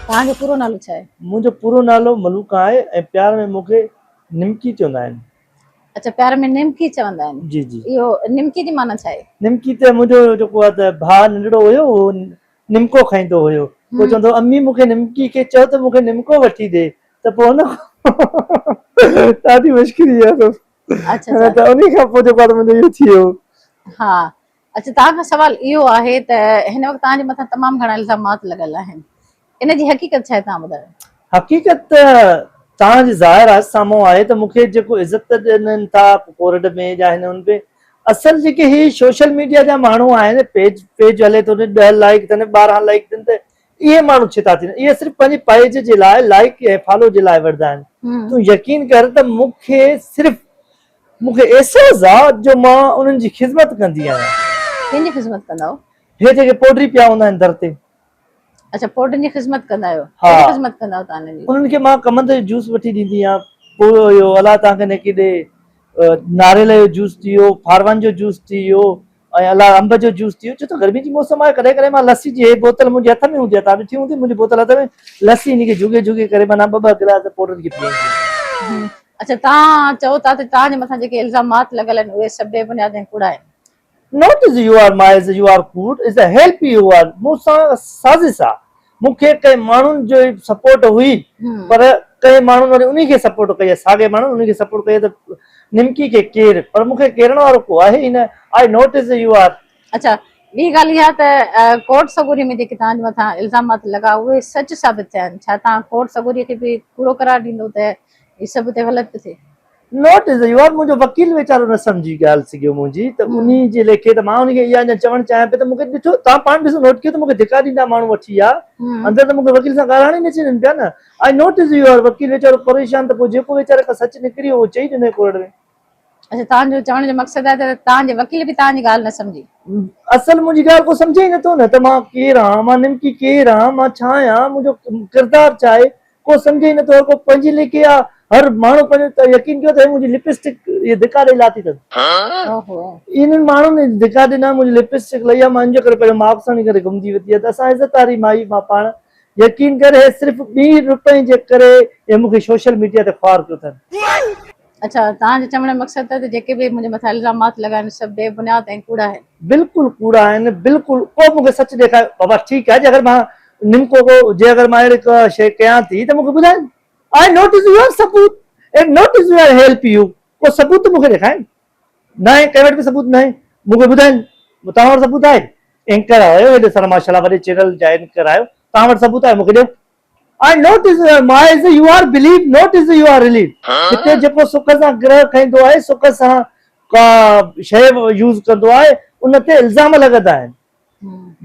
توهان جو پورو نالو ڇا آهي؟ منهنجو پورو نالو ملوڪ آهي ۽ پيار ۾ مون کي نمڪي چوندا آهن. اڇا پيار ۾ نمڪي چوندا آهن. جي جي. اهو نمڪي جي معنيٰ ڇا آهي؟ نمڪي ته منهنجو جيڪو آهي ته ڀاء ننڍڙو هيو اهو نمڪو کائيندو هيو پوء چوندو هو امي مون کي نمڪي کي چئو ته مون کي نمڪو وٺي ڏي ته پوء ان کان ڏاڍي مشڪري اهي سڀ اڇا اڇا. ته انهي کان پوء جيڪو آهي ته منهنجو اهو ٿي ويو. ها اچ توهان کان سوال اهو آهي ته هن وقت توهان جي مٿان تمام گهڻا الزامات لڳل آهن ان جي حقيقت ڇا آهي توهان ٻڌايو. حقيقت ته توهان جي ظاهر آهي سامهون آهي ته مون کي جيڪو عزت ڏنن ٿا ڪورٽ ۾ يا هن هن ۾ اصل جيڪي هي سوشل ميڊيا جا ماڻهو آهن پيج پيج هلي ٿو ڏهه لائڪ ٿين ٻارهن لائڪ ٿين ته اهي ماڻهو ڇتا ٿيندا. اهي صرف پنهنجي پئيج جي لاء لائيڪ ۽ فالو جي لاء وڙهندا آهن. تون يقين ڪر ته مون کي صرف مون کي احساس آ جو مان انهن جي خذمت ڪندي آهيان. ڪنهن جي خذمت ڪندا آهيو؟ هي جيڪي پوڊري پيا هوندا آهن در تي. اڇا پوڊرين جي خذمت ڪندا آهيو. ها. ڪهڙي خذمت ڪندا آهيو تان انهن جي؟ انهن کي مان ڪمند جو جوس وٺي ڏيندي آهيان. پوء اهو الله تان کي نيڪي ڏي. ناريل جو جوس ٿي ويو، ڦاروان جو جوس ٿي ويو. ۽ الله انب جو جوس ٿيو ڇو ته گرمي جي موسم آهي ڪڏهن ڪڏهن مان لسي جي هي بوتل منهنجي هٿ ۾ هوندي آهي تان ڏٺي هوندي منهنجي بوتل هٿ ۾ لسي هن کي جهڳي جهڳي ڪري معنيٰ ٻه ٻه گلاس پوڙهن کي پيئڻ ڏيندي آهيان. اڇا توهان چئو ٿا ته توهان جي مٿان جيڪي الزامات لڳل آهن اهي سڀ بي بنياد ۽ ڪوڙا آهن. Not as you are my as you are could is a help you are مون سان سازش آهي مون کي ڪئين ماڻهن جو ئي سپورٽ هئي پر ڪئين ماڻهن وري انهي کي سپورٽ ڪئي آهي ساڳئي ماڻهن انهي کي سپورٽ ڪئي آهي ته نمڪي کي ڪير پر مون کي ڪيرڻ وارو ڪو آهي ئي نه I not as you are اڇا ٻي ڳالهه اها ته ڪورٽ سڳوري ۾ جيڪي توهان جي مٿان الزامات لڳا اهي سچ ثابت ٿيا آهن ڇا توهان ڪورٽ سڳوري کي به ڪوڙو قرار ڏيندو ته هي سڀ ته غلط پيو ٿئي. نوٽ ايز يو آر منهنجو وڪيل ويچارو نه سمجهي ڳالهه سگهيو منهنجي ته انهي جي ليکي ته مان انهي کي اها اڃا چوڻ چاهيان پئي ته مون کي ڏٺو توهان پاڻ ڏسو نوٽ ڪيو ته مون کي ڌڪا ڏيندا ماڻهو وٺي يا اندر ته مون کي وڪيل سان ڳالهائڻ ئي نه ڇڏين پيا نه I not as you are وڪيل ويچارو پريشان ته پوء جيڪو ويچاري کان سچ نڪري اهو چئي ڏنو ڪورٽ ۾. اچا توهان جو چوڻ جو مقصد آهي ته توهان جي وڪيل به توهان جي ڳالهه نه سمجهي. اصل منهنجي ڳالهه ڪو سمجهي ئي نه ٿو نه ته مان ڪير آهان مان نمڪي ڪير آهان مان ڇا آهيان منهنجو ڪردار ڇا آهي ڪو سمجهي ئي نٿو، هر ڪو پنهنجي ليڪي آ، هر ماڻهو پنهنجو، يقين ڪيو ته هي منهنجي لپسٽڪ اهي ڌڪا ڏئي لاتي اٿن. انهن ماڻهن اهي ڌڪا ڏنا، منهنجي لپسٽڪ لئي آ، مان ان جو ڪري پنهنجو ماپ ساڻي کڻي گهمندي وتي آ ته اسان عزت واري مائي مان پاڻ، يقين ڪر هي صرف ٻي روپئي جي ڪري اهي مون کي سوشل ميڊيا تي خوار ڪيو اٿن. اڇا توهان جي چوڻ جو مقصد ته جيڪي به منهنجي مٿان الزامات لڳا آهن سڀ بي بنياد ۽ ڪوڙا آهن. بلڪل ڪوڙا آهن بلڪل ڪو مونکي سچ ڏيکاري بابا ٺيڪ آهي جي اگر مان نمڪو ڪو جي اگر مان اهڙي ڪا شي ڪيان ٿي ته مونکي ٻڌائين آء نوٽس يور ثبوت and notes your help you ڪو ثبوت ته مونکي ڏيکارين ناهي ڪنهن وٽ به ثبوت ناهي مونکي ٻڌائين توهان وٽ ثبوت آهي اينڪر آهيو هيڏو سارو ماشاءالله وڏي چينل جا اينڪر آهيو توهان وٽ ثبوت آهي مونکي ڏيو. I not as my as you are belief not as you are relief هتي جيڪو سک سان گرهه کائيندو آهي سک سان ڪا شيء يوز ڪندو آهي ان تي الزام لڳندا آهن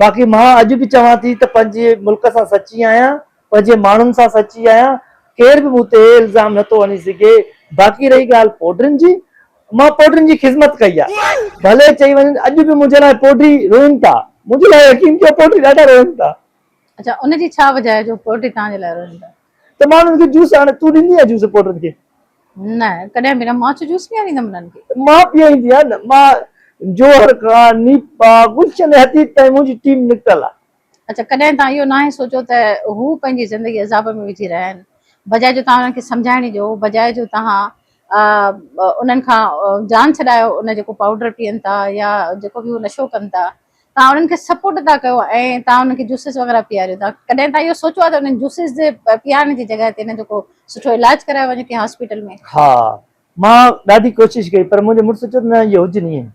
باقي مان اڄ به چوان ٿي ته پنهنجي ملڪ سان سچي آهيان پنهنجي ماڻهن سان سچي آهيان ڪير به مون تي الزام نه ٿو هڻي سگهي باقي رهي ڳالهه پوڊرين جي مان پوڊرين جي خدمت ڪئي آهي ڀلي چئي وڃن اڄ به منهنجي لاء پوڊري روئن ٿا منهنجي لاء يقين ڪيو پوڊري ڏاڍا روئن ٿا اچا ان جي ڇا وجه آهي جو پوئٽري توهان جي لاء روشن آهي؟ ته ماڻهن کي جوس آڻي تون ڏيندي آهين جوس پوئٽرن کي؟ نه ڪڏهن به نه مان ڇو جوس پياريندم انهن کي. مان پيئيندي آهيان نه مان جوهر کان نيپا گلشن ۽ حديد تائين منهنجي ٽيم نڪتل آهي. اچا ڪڏهن توهان اهو ناهي سوچيو ته هو پنهنجي زندگي عذاب ۾ وجهي رهيا آهن بجاء جو توهان انهن کي سمجهائڻي جو بجاء جو توهان انهن کان جان ڇڏايو ان جيڪو پائوڊر پيئن ٿا يا جيڪو به هو نشو ڪن ٿا توهان انهن کي سپورٽ ٿا ڪيو ۽ توهان انهن کي جوسز وغيره پياريو ٿا ڪڏهن توهان اهو سوچيو آهي ته انهن جوسز جي پيارڻ جي جڳهه تي انهن جو ڪو سٺو علاج ڪرايو وڃي ڪنهن هاسپيٽل ۾؟ ها مان ڏاڍي ڪوشش ڪئي پر منهنجي مڙس چيو ته نه اهي هجن ائين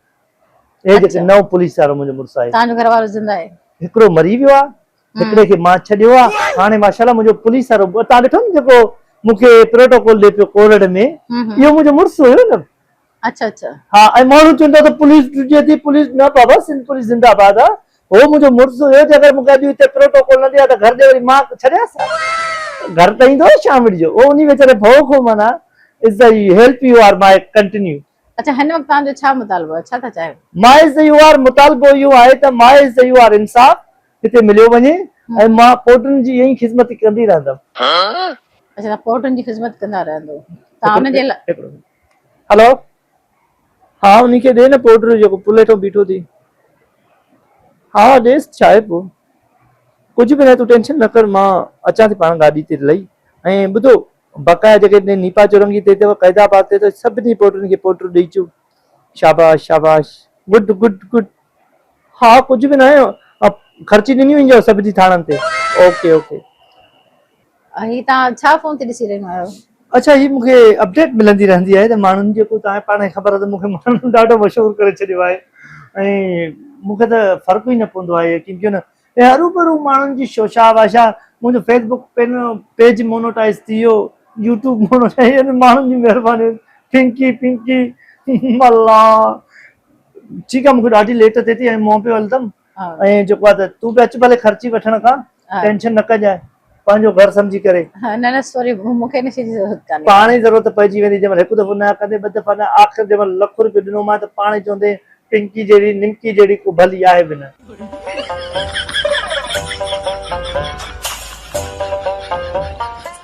اهي جيڪي نئون پوليس وارو منهنجو مڙس آهي توهان جو گهر وارو زنده آهي هڪڙو مري ويو آهي هڪڙي کي مان ڇڏيو آهي هاڻي ماشاءالله منهنجو پوليس وارو توهان ڏٺو نه جيڪو مون کي پروٽوڪول ڏي پيو ڪورڙ ۾ اهو منهنجو مڙس هيو نه اچھا اچھا. ھا ۽ ماڻھو چون ٿا ته پوليس ڊڄي ٿي پوليس نه بابا سنڌ پوليس زنده باد آ ھو منھنجو مڙس ھيو جي اگر مون کي اڄ ھتي پروٽوڪول نه ڏئي ھا ته گھر ڏي وري مان ڇڏياس ھا گھر ته ايندو ھو شام جو ھو انھي ويچاري ڀئو کان معنيٰ از ته اھي help you are my continue. اچھا ھن وقت توھان جو ڇا مطالبو آھي ڇا ٿا چاھيو؟ ماء از ته يو آر مطالبو اھو آھي ته ماء از ته يو آر انصاف ھتي مليو وڃي ۽ مان پوٽن جي ائين خدمت ڪندي رھندم. اچھا توھان پوٽن جي خدمت ڪندا رھندو توھان ان جي لاء. هلو ها انهي کي ڏي نه پورٽر جيڪو پل هيٺون بيٺو ٿي ها ها ڏيس ڇا آهي پوء ڪجهه به ناهي تون ٽينشن نه ڪر مان اچان ٿي پاڻ گاڏي تي لهي ۽ ٻڌو بقايا جيڪي نيپا چورنگي تي اٿئي قيد آباد تي اٿئي سڀني پورٽرن کي پورٽر ڏئي اچو شاباش شاباش گڊ گڊ گڊ ها ها ڪجهه به ناهي خرچي ڏنيون وينديون سڀني ٿاڻن تي اوڪي اوڪي هي توهان ڇا فون تي ڏسي رهيون آهيو. اڇا هي مونکي اپڊيٽ ملندي رهندي آهي ته ماڻهن جيڪو توهان کي پاڻ کي خبر آهي ته مونکي ماڻهن ڏاڍو مشهور ڪري ڇڏيو آهي ۽ مونکي ته فرق ئي نه پوندو آهي يقين ڪيو نه ۽ هروڀرو ماڻهن جي شوشا واشا منهنجو فيس بڪ پين پيج مونوٽائز ٿي ويو يوٽيوب مونوٽائز يعني ماڻهن جي مهرباني پنڪي پنڪي ملا ٺيڪ آهي مونکي ڏاڍي ليٽ ٿي ٿي ۽ مون پيو هلندم ائين جيڪو آ ته تون به اچ ڀلي خرچي وٺڻ کان ٽينشن نه ڪجانء پنهنجو گهر سمجهي ڪري. نه نه سوري مون کي ان شي جي ضرورت ڪانهي. پاڻ ئي ضرورت پئجي ويندي جنهن مهل هڪ دفعو نه ڪندين ٻه دفعا نه آخر جنهن مهل لک روپيو ڏنومانء ته پاڻ ئي چوندين پنڪي جهڙي نمڪي جهڙي ڪو ڀلي آهي به نه.